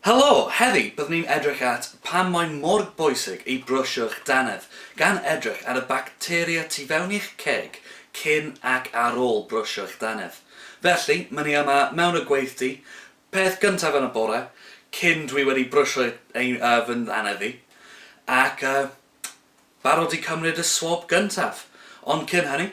Helo! Heddi, byddwn ni'n edrych at pam mae mor bwysig i brwsio'ch dannedd, gan edrych ar y bacteria tu fewn i'ch ceg cyn ac ar ôl brwsio'ch dannedd. Felly, ma' ni yma mewn y gweithdy, peth gyntaf yn y bore, cyn dwi wedi brwsio ein, yy, fy nannedd i, ac, yy, barod i cymryd y swab gyntaf. Ond cyn hynny,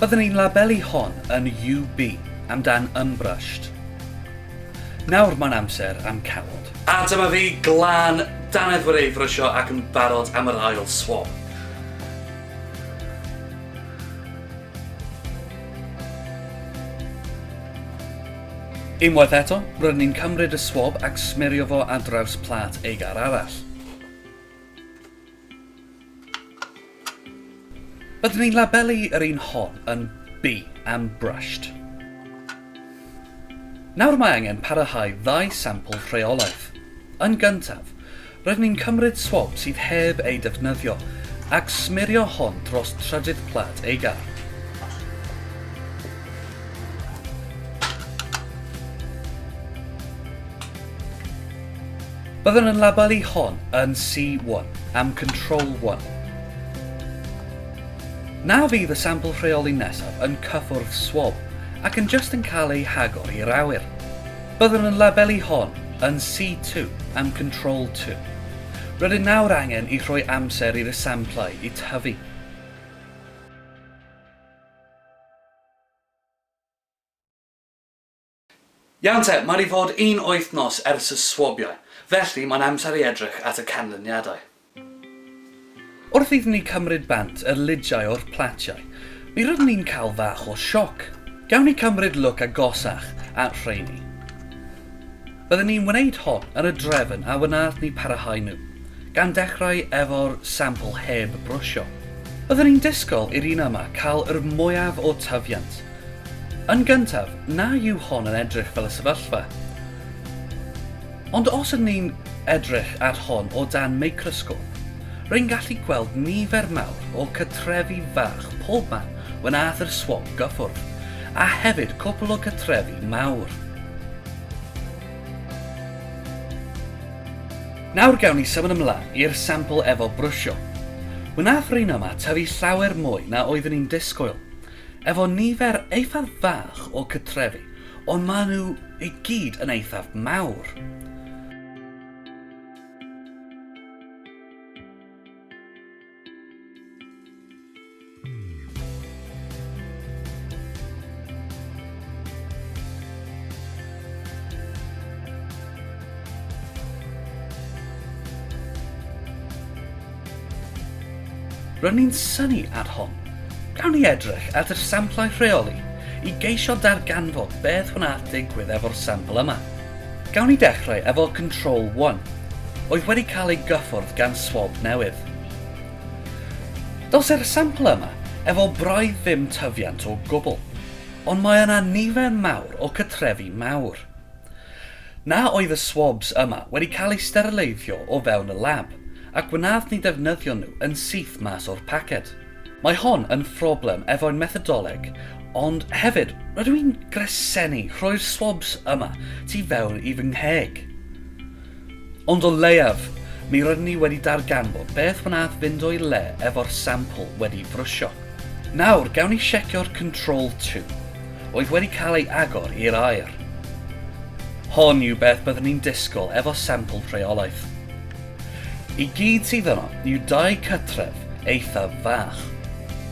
Byddwn i'n labelu hon yn UB amdan Unbrushed. Nawr mae'n amser am cawod. A dyma fi, glân, dannedd wedi ei frysio ac yn barod am yr ail swab. Unwaith eto, rydyn ni'n cymryd y swab ac smerio fo ar draws plât aegar arall. Byddwn i'n labelu yr un hon yn B am brushed. Nawr mae angen parahau ddau sampl rheolaeth. Yn gyntaf, rydyn ni'n cymryd swab sydd heb ei defnyddio ac smirio hon dros trydydd plât ei gar. Byddwn yn labelu hon yn C1 am Control 1. Na fydd y sampl rheoli nesaf yn cyffwrdd swab ac yn jyst yn cael eu hagor i'r awyr. Byddwn yn labelu hon yn C2 am Control 2. Rydyn nawr angen i rhoi amser i'r samplau i tyfu. Iawn te, mae 'di fod un wythnos ers y swabiau, felly mae'n amser i edrych at y canlyniadau. Wrth iddyn ni cymryd bant yr lidiau o'r platiau, mi roeddwn ni'n cael fach o sioc. Gawn ni cymryd lwc agosach at rheini. Byddwn ni'n wneud hon yn y drefn a wnaeth ni parahau nhw, gan dechrau efo'r sampl heb brwsio. Byddwn ni'n disgwyl i'r un yma cael yr mwyaf o tyfiant, Yn gyntaf, na yw hon yn edrych fel y sefyllfa. Ond os ydyn ni'n edrych ar hon o dan microsgôp, rwy'n gallu gweld nifer mawr o cytrefi fach pob man when aeth yr swab gyffwrdd, a hefyd cwpl o gytrefi mawr. Nawr gawn ni symud ymlaen i'r sampl efo brwsio. Wnaeth Rhino 'ma tyfu llawer mwy na oeddwn i'n disgwyl. efo nifer eithaf fach o cytrefi, ond maen nhw i gyd yn eithaf mawr. Rydyn ni'n synnu ar hon. Gawn ni edrych at yr samplau rheoli i geisio darganfod beth wnaeth digwydd efo'r sampl yma. Gawn ni dechrau efo control 1, oedd wedi cael ei gyffwrdd gan swab newydd. Dos i'r sampl yma efo braidd ddim tyfiant o gwbl, ond mae yna nifer mawr o cytrefi mawr. Na oedd y swabs yma wedi cael eu sterleiddio o fewn y lab, ac wnaf ni ddefnyddio nhw yn syth mas o'r paced. Mae hon yn phroblem efo'n methodoleg, ond hefyd rydw i'n gresennu rhoi'r swabs yma tu fewn i fy ngheg. Ond o leiaf, mi rydyn ni wedi darganfod beth wnaeth fynd o'i le efo'r sampl wedi frysio. Nawr, gawn ni siecio'r control tube. oedd wedi cael ei agor i'r aer. Hon yw beth byddwn ni'n disgwyl efo sampl rheolaeth. I gyd sydd yno yw dau cytref eithaf fach.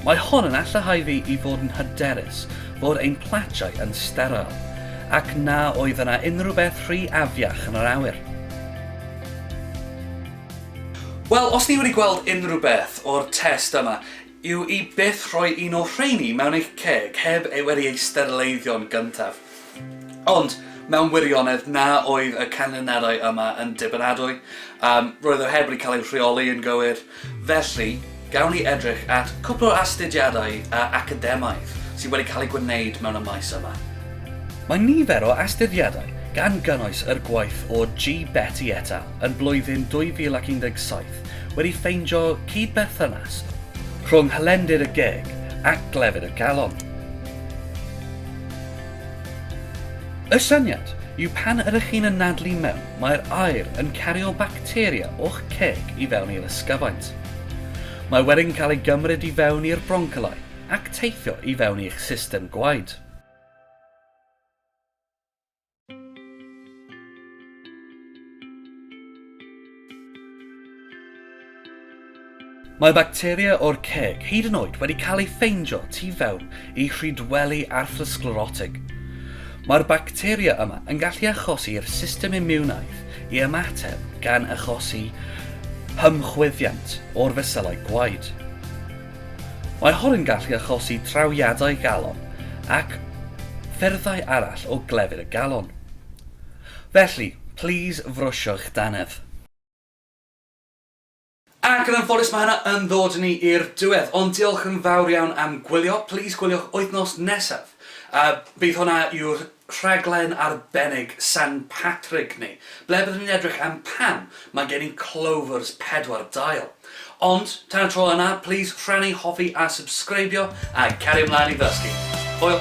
Mae hon yn allahau fi i fod yn hyderus fod ein platiau yn steryl ac na oedd yna unrhyw beth rhy afiach yn yr awyr. Wel, os ni wedi gweld unrhyw beth o'r test yma, Yw i byth rhoi un o'r rheini mewn eich ceg heb ei wedi ei sterleiddio'n gyntaf. Ond, mewn wirionedd, na oedd y canlyniadau yma yn dibynadwy. Um, roedd o heb wedi cael ei rheoli yn gywir. Felly, gawn ni edrych at cwpl o astudiadau a academaidd sydd wedi cael eu gwneud mewn y maes yma. Mae nifer o astudiadau, gan gynnwys yr gwaith o G. Betty et al. yn blwyddyn 2017 wedi ffeindio cyd-berthynas rhwng hylendid y geg ac glefyd y galon. Y syniad yw pan ydych chi'n anadlu mewn, mae'r aer yn cario bacteria o'ch ceg i fewn i'r ysgyfaint. Mae wedyn cael ei gymryd i fewn i'r broncyllau ac teithio i fewn i'ch system gwaed. Mae bacteria o'r ceg hyd yn oed wedi cael ei ffeindio tu fewn i rhydweli arthrosglerotig. Mae'r bacteria yma yn gallu achosi i'r system imiwnaidd i ymateb gan achosi hymchwyddiant o'r fesylau gwaed. Mae hon yn gallu achosi trawiadau galon ac ffyrddau arall o glefyd y galon. Felly, plis frwsio eich dannedd. Ac yn anffodus mae hynna yn ddod ni i'r diwedd, ond diolch yn fawr iawn am gwylio, plis gwyliwch wythnos nesaf, a bydd hwnna yw'r rhaglen arbennig San Patrick ni, ble byddwn ni'n edrych am pam mae gen i clovers pedwar dail. Ond, tan y tro yna, plîs rhannu, hoffi a subscribio, a cario mlaen i ddysgu. Hwyl!